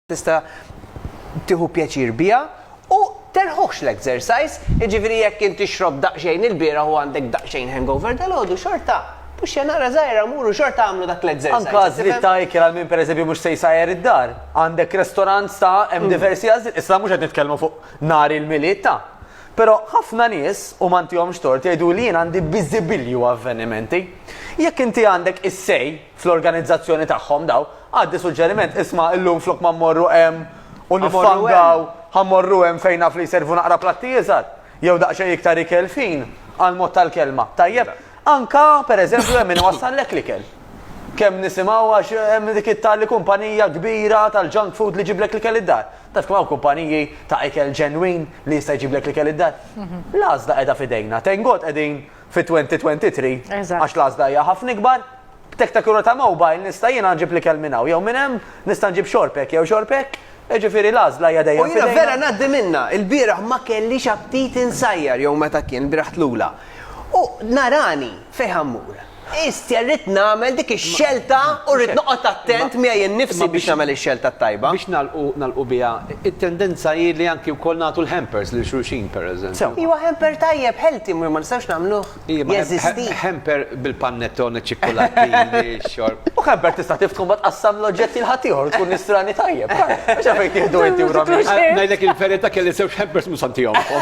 tista' tieħu pjaċir biha u terħuħx l-exercise, jiġifieri jekk int tixrob daqsxejn il-bieraħ u għandek daqsxejn hangover dalgħodu xorta puxxa naqra żgħira mur u xorta agħmlu dak l-exercise. Anke għażliet ta' ikel għal min pereżempju mhux se jsajjar id-dar. Għandek restorant sa hemm mm. diversi għażliet, issa mhux qed nitkellmu fuq nhar il-milied ta' Pero ħafna nies u mantihom xtort jgħidu li jien għandi biżibilju avvenimenti. Jekk inti għandek is-sej fl-organizzazzjoni tagħhom dawn, għaddi suġġeriment, isma' illum flok ma mmorru hemm u niffangaw, ħa mmorru hemm fejn naf li jservu naqra platti iżgħar, jew daqsxejn iktar ikel fin, għall-mod tal-kelma. Tajjeb? Anke, pereżempju, hemm min iwassallek l-ikel. Kemm nisimgħu għax hemm dik it-tali kumpanija kbira tal-junk food li jġiblek l-ikel id-dar. Taf kemm hawn kumpaniji ta' ikel ġenwin li jista' jġiblek l-ikel id-dar? L-għażla qiegħda f'idejna. Thank God qegħdin fit-2023 Eżatt. għax l-għażla hija ħafna ikbar. B'tektakura ta' mobile nista' jiena nġib l-ikel minn hawn jew minn hemm, nista' nġib xorb hekk jew xorb hekk, jiġifieri l-għażla hija dejjem f'idejna. U jiena vera ngħaddi minnha, ilbieraħ ma kellix aptit insajjar jew meta kien ilbieraħ tlula. U narani fejn ħa mmur. Istja rrid nagħmel dik ix-xelta u rrid noqgħod attent miegħi nnifsi biex nagħmel ix-xelta t-tajba. Biex nagħlqu nagħlqu biha It-tendenza hi li anki wkoll nagħtu l-hampers lil xulxin, pereżempju. Iwa hamper tajjeb, healthy, ma nistgħux nagħmluh jeżisti. Iwa, hamper bil-panettone u ċ-ċikkulattin li xxorb. U hamper tista' tiftħu mbagħad tqassam l-oġġetti l' ħaddieħor u tkun nisrani tajjeb. Mhux għalfejn tieħdu inti u Romina. Ngħidlek il-verità kelli żewġ hampers mhux se ntihomkom.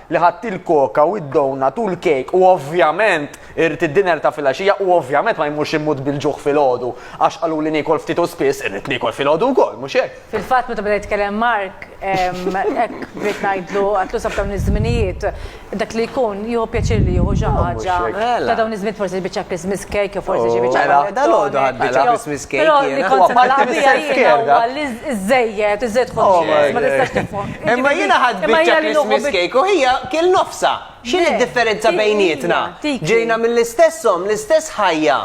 li ħadt il-koka u d-donut u l-kejk u ovvjament irrid id-dinner ta' filgħaxija u ovvjament ma jmurx immut bil-ġuħ filgħodu għax qaluli niekol ftit u spiss, irrid niekol filgħodu wkoll, mhux hekk? Fil-fatt meta beda jitkellem Mark hekk bdejt ngħidlu, għatlu sa f'dawn iż-żminijiet dak li jkun jieħu pjaċir li jieħu xi ħaġa ta' dawn iż-żminijiet forsi xi biċċa Christmas cake jew forsi xi biċċa panettone. Mela, dalgħodu ħadt biċċa Christmas cake jiena. Però li kont se nagħlaq biha jiena huwa li iż-żejjed, iż-żejjed ħoss ma tistax tifhom. Imma jiena ħadt biċċa Christmas cake u hija kiel nofsha. X'inhi d-differenza bejnietna? Ġejna mill-istess omm, l-istess ħajja.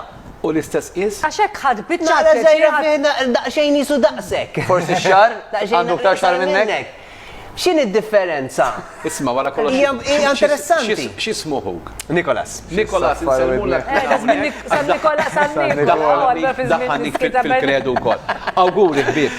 U l-istess qies? Għax hekk ħadt biċċa. Naqra żgħira fih daqsxejn qisu daqsek. Forsi x-xagħar? Għandu iktar xagħar minnek? X'inhi d-differenza? Isma' wara kollox. Hija interessanti. X'ismu ħuk? Nikolas. Nikolas, insellmulek. San Nikolas, San Nikolas. Daħħalni fil-kredu wkoll. Awguri ħbieb.